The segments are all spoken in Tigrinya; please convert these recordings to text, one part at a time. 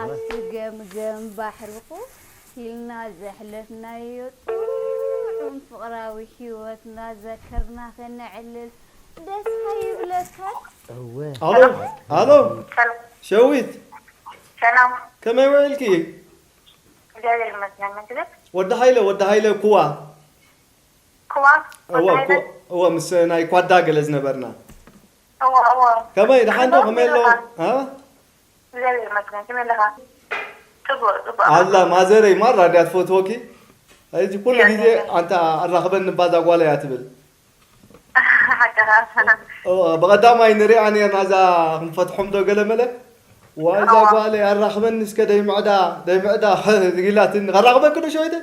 ኣብቲ ገምገም ባሕርኹ ኢልና ዘሕለፍናዮ ጥዑም ፍቕራዊ ሂወት እናዘከርና ከነዕልል ደስ ኣይብለካን? እወ ኣሎ ኣሎ ሰላም ሸዊት ሰላም ከመይ ውዒልኪ? እግዚኣብሔር ይመስገን ምግብስ ወዲ ሃይለ ወዲ ሃይለ ኩዋ ክዋ ወዲ እወ ሃይለ ኩ እወ ምስ ናይ ኳዳ ገለ ዝነበርና እወ እወ ከመይ ደሓን ዶ ከመይ ኣሎ ኣ እግዚኣብሔር ይመስገን ከመይ ኣለኻ ጽቡቅ ጽቡቅ ኣላ ማዘረይ ማራ እንዲያ ትፈትወኪ እዚ ኩሉ ግዜ ኣንታ ኣራኽበኒ እባ እዛ ጓለይ እያ ትብል ሓቀኻ እዋ፣ ብቐዳማይ ንሪኣ ነርና እዛ ክንፈትሖም ዶ ገለ መለ ዋይ እዛ ጓለይ ኣራኽበኒ እስከ ደይምዕዳ ደይምዕዳ ኢላትኒ ከራኽበኪ ዶ ሸወይተይ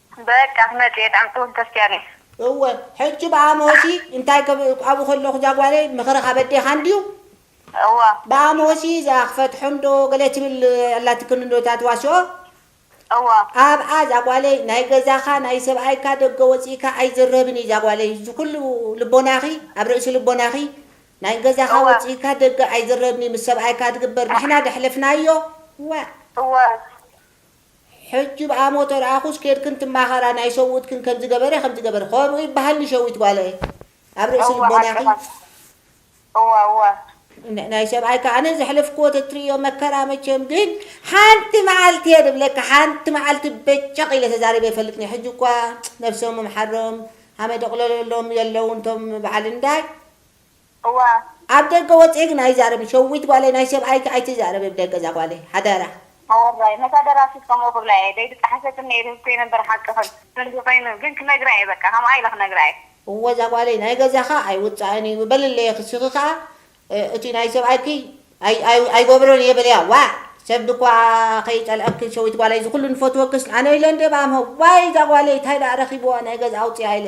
በቃ ክመጽእ እየ ጣዕሚ ትውህብ ተስፍይ ኣልየ። እወ ሕጂ ብኣምሆሲ እንታይ ክብ ኣብኡ ከለኩ እዛ ጓለይ ምክርካ በዲካ እንድዩ እወ። ብኣምሆሲ እዛ ክፈትሖ እንዶ ገለ ትብል ኣላትክን እንዶ እታ ትዋስኦ እወ። ኣብኣ እዛ ጓለይ ናይ ገዛካ ናይ ሰብኣይካ ደገ ወጺእካ ኣይዝረብን እዩ እዛ ጓለይ እዚ ኩሉ ልቦናኪ ኣብ ርእሲ ልቦናኪ ናይ ገዛካ እወ። ወጺእካ ደገ ኣይዝረብን እዩ ምስ ሰብኣይካ ዝግበር ንሕና ዘሕለፍናዮ ዋእ። እወ። ሕጂ ብኣ ሞቶ ርኣኩስ ኬድክን ትማከራ ናይ ሰብኡትክን ከምዚ ገበረ ከምዚ ገበረ ከምኡ ይባሃልኒ ሸዊት ጓለይ ኣብ ርእሲ እወ ልቦናኪ ሓቂ መሲልካ እወ እወ። ናይ ሰብኣይካ ኣነ ዘሕለፍክዎ ተትርእዮ መከራ መቸም ግን ሓንቲ መዓልቲ እየ ድብለካ ሓንቲ መዓልቲ በጨቅ ኢለ ተዛሪበ ኣይፈልጥን እየ ሕጂ እኳ ነብሶም ምሓሮም ሃመ ደቅለለሎም የለውን እቶም በዓል እንዳ እዋ። ኣብ ደገ ወጺኤ ግን ኣይዛረብን ሸዊት ጓለይ ናይ ሰብኣይኪ ኣይትዛረቢ ብ ደገ እዛ ጓለይ ሓደራ። ኣወራይ ነታ ደራሲት ከምኡ ክብላ እየ ደይ ድጠሓሰትን ነይሩ ህዝተይ ነበር ሓቅኽን። ከምዚ ኮይኑ ግን ክነግራ እየ በቃ ከምኣ ኢለ ክነግራ እየ። እወ እዛ ጓለይ ናይ ገዛኻ ኣይውጻእን እዩ በልለየ ክስኺ ከኣ እቲ ናይ ሰብኣይኪ ኣይገብሮን እየ በልያ ዋእ ሰብ ድኳ ከይጸልኣኪ ሸዊት ጓለይ እዚ ኩሉ ንፈትወክስ ኣነ ኢለ እንድየ ባኣምሀው ዋይ እዛ ጓለይ ታይ ዳኣ ረኺብዋ ናይ ገዝኣ ኣውጽኣ ኢለ